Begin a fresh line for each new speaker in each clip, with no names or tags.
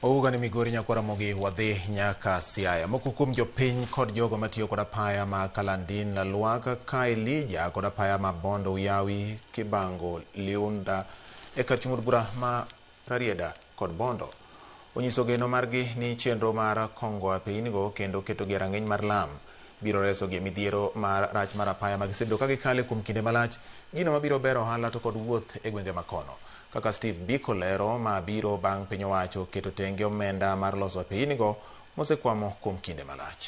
Ouga ni Migori Nyakwara Mogi wadhi nyaka Siaya. Moko kuom jopiny kod jogo matiyo kod apaya ma Kalandin Lalwaka ka Elija kod apaya ma Bondo Uyawi Kibango Liunda e kar chung' od bura ma Rarieda kod Bondo onyiso geno margi ni chenro mar kongo apeynigo kendo ketogi e rang'iny mar lam. biro resogi e midhiero mar rach mar apaya ma gisebedo ka gikale kuom kinde malach, gino mabiro bero ohala to kod wuoth e gwenge ma kono. Kaka Steve Biko lero, ma biro bang' piny owacho keto tenge omenda mar loso apeinigo mosekwamo kuom kinde malach.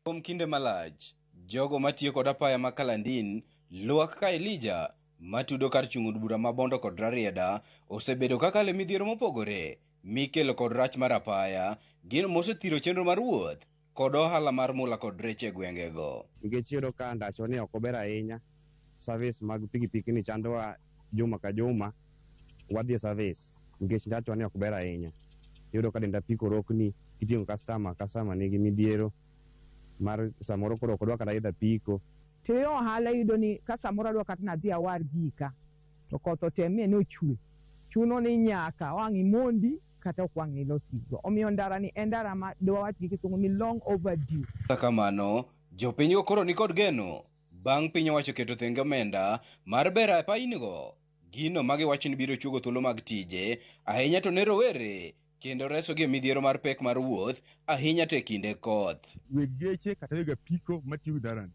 Kuom kinde malach, jogo matiyo kod apaya ma Kalandin, Lwak ka Elija, matudo kar chung' od bura ma Bondo kod Rarieda, osebedo kakalo e midhiero mopogore mikelo kod rach mar apaya, gino mosethiro chenro mar wuoth kod ohala mar mula kod rech e gwengego. Nikech iyudo ka
ndachoni ok ober ahinya. service mag pikipiki ni chandowa juma ka juma wadhi e service nikech ndachwa ni ok ber ahinya. Iyudo ka denda piko rokni kiting'o customer, customer nigi midhiero mar samoro koro ok odwa kata idho apiko. To e ohala
iyudo ni ka samoro adwa kata ni adhi awar gika to koth otemie ni ochwe, chuno ni nyaka wang' imondi kata ok wang' ilos gigo. Omiyo ndara ni en ndara ma dwawach gi kisungu ni long overdue. Kata kamano,
jopinygo koro nikod geno. Bang' piny owacho keto thenge omenda mar bero apainigo, gino ma giwacho ni biro chuogo thuolo mag tije, ahinya to ne rowere, kendo resogi e midhiero mar pek mar wuoth, ahinya to e kinde koth. Weg geche kata
weg apiko matiyo gi ndarani,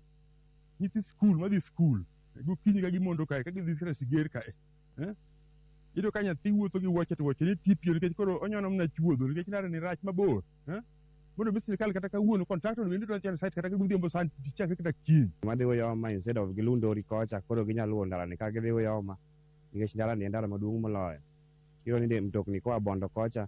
nyithi skul madhi skul gokinyi ka gimondo kae ka gidhi sira siger kae eh? Iyudo ka nyathi wuotho gi wuoche to wuochene tipio nikech koro onyono mana chuodho nikech ndarani rach mabor. Eh? Mondo mi sirkal kata kawuono contractor no bende dwa chano site kata godhiambo sand chakre kata kiny. Madhi Uyoma instead
of gilundori kocha koro ginya luwo ndalani ka gidhi Uyoma nikech ndalani en ndara maduong' moloyo. Iyudo ni de- mtokni koa Bondo kocha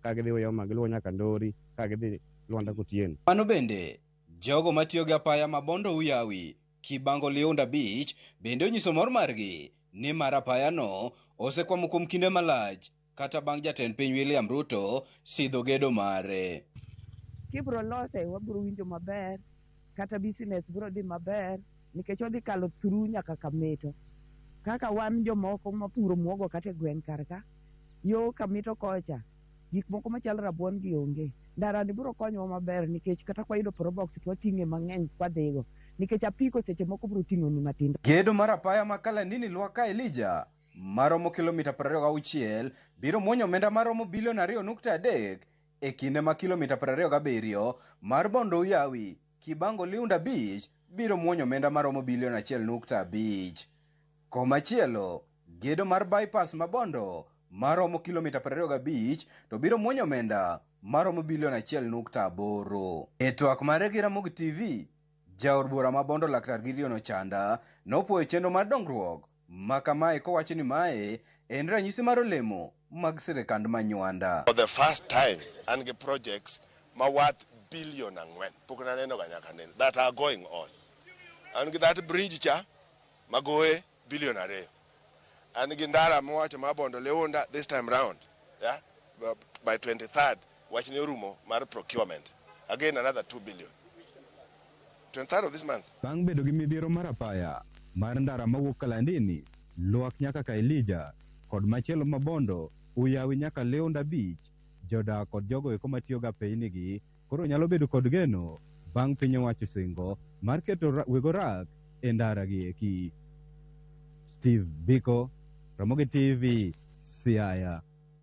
ka gidhi Uyoma giluwo nyaka Ndori ka gidhi Lwanda Kotieno. Mano bende,
jogo matiyo gi apaya ma Bondo Uyawi, Kibango Liunda Beach bende onyiso mor margi nimar apayano osekwamo kuom kinde malach. kata bang' jatend piny William Ruto sidho gedo mare. Kibro
lose wabro winjo maber kata business bro dhi maber nikech odhi kalo through nyaka Kamito. Kaka wan jomoko mapuro muogo kata e gweng' kar ka, yo Kamito kocha, gik moko machal rabuon gi onge. Ndara ni bro konyowa maber nikech kata kwayudo probox to wating'e mang'eny kwadhigo nikech apiko seche moko bro ting'oni matindo. Gedo mar apaya ma
Kalanini lwa ka Elijah. ma romo kilomita 26 biro muonyo omenda ma romo bilion 2.3 e kinde ma kilomita 27 mar Bondo Uyawi, Kibango Liunda Beach biro muonyo omenda ma romo bilion 1.5. Komachielo, gedo mar bypass ma Bondo ma romo kilomita 25 to biro muonyo omenda ma romo bilion 1.8. E twak mare gi Ramogi TV, jaod bura ma Bondo Laktar Gideon Ochanda nopwoyo chenro mar dongruok ma kamae kowacho ni mae en ranyisi mar olemo mag sirikand manywanda. For the first time,
an gi projects ma worth billion ang'wen, pok naneno ga nyaka nene, that are going on. An gi that bridge cha ma goye billion ariyo. An gi ndara mowacho ma Bondo Leunda this time round, yeah, by 23rd Wachne orumo mar procurement. Again another two billion. Twenty third of this month. Bang' bedo gi midhiero
mar apaya mar ndara mawuok Kalandini, Lwak nyaka Kaelija, kod machielo ma Bondo, Uyawi nyaka Leonda Beach, jodak kod jogo eko matiyogo apeini gi koro nyalo bedo kod geno bang' piny owacho singo mar keto weg orak e ndara gi eki. Steve Biko, Ramogi TV, Siaya.